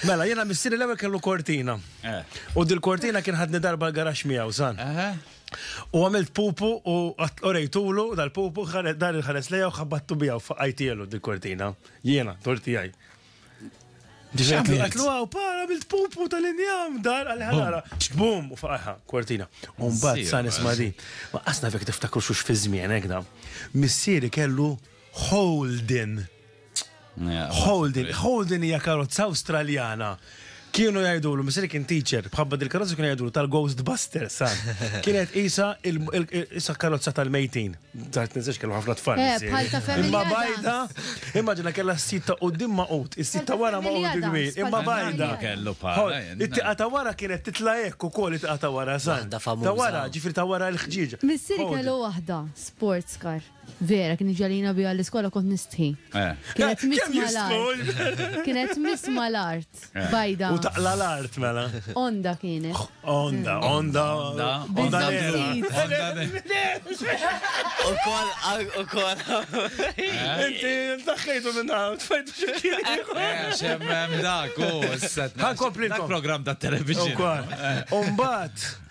Mela, jiena missieri l-ewwel kellu kortina. U dil-kortina kien ħadni darba l-garax miegħu san. U għamilt pupu u orejtulu dal-pupu dar il-ħares lejja u ħabbattu bija u faqajtielu dil-kortina. Jiena, torti għaj. Ġiġaklu, għatlu għaw, para bil pupu tal-injam, dar għal-ħalara. Bum, u faqaħa, kwartina. Umbat, san ismadi. Ma asna fek tiftakru xux fi zmien, ekda. Missieri kellu holdin. Holden, Holden hija karozza Awstraljana. Kienu jgħidulu, misri kien teacher, bħabba dil-karozza kienu jgħidulu tal-Ghostbuster, sa. Kienet isa isa karozza tal-mejtin. Taħt nisax kellu ħafna tfal. Eh, bħal ta' familja. Imma bajda, immaġina kella s-sit ta' qoddim ma' qut, is-sit ta' wara ma' qut il-gwir, imma bajda. Kellu bħala. It-tiqa ta' wara kienet titla' hekk ukoll it-tiqa ta' wara, sa. Ta' wara, ġifri ta' wara l-ħġieġ. Missiri kellu waħda, sports car. Vera, kien iġagħlina biha l-iskola kont nistħi. Kienet miss mal-art. Kienet miss mal-art. Bajda. U taqla l-art mela. Onda kienet. Onda, onda. Onda. U kol, u kol. Inti daħħejtu minn hawn, tfajtu xekki. Xemmem dak, u s-set. Ħan kompli. Dak program ta' television. U kol. Umbat.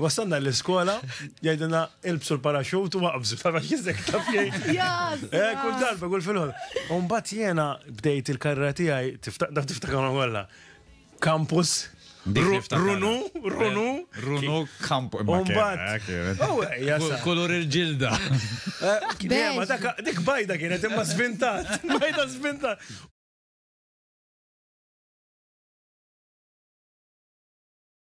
Wassalna l-iskola, jgħidilna ilbsu l-paraxut u waqbżu, ta' biex jizzek ta' fjej. Eh, kull darba, kull fil-ħol. Umbat jena bdejt il-karra tijaj, tiftakar tiftakar għalla. Kampus, Runu, runu. Runu kamp. Umbat. Oh, Kulur il-ġilda. Eh, dik bajda kienet imma svintat. Bajda svintat.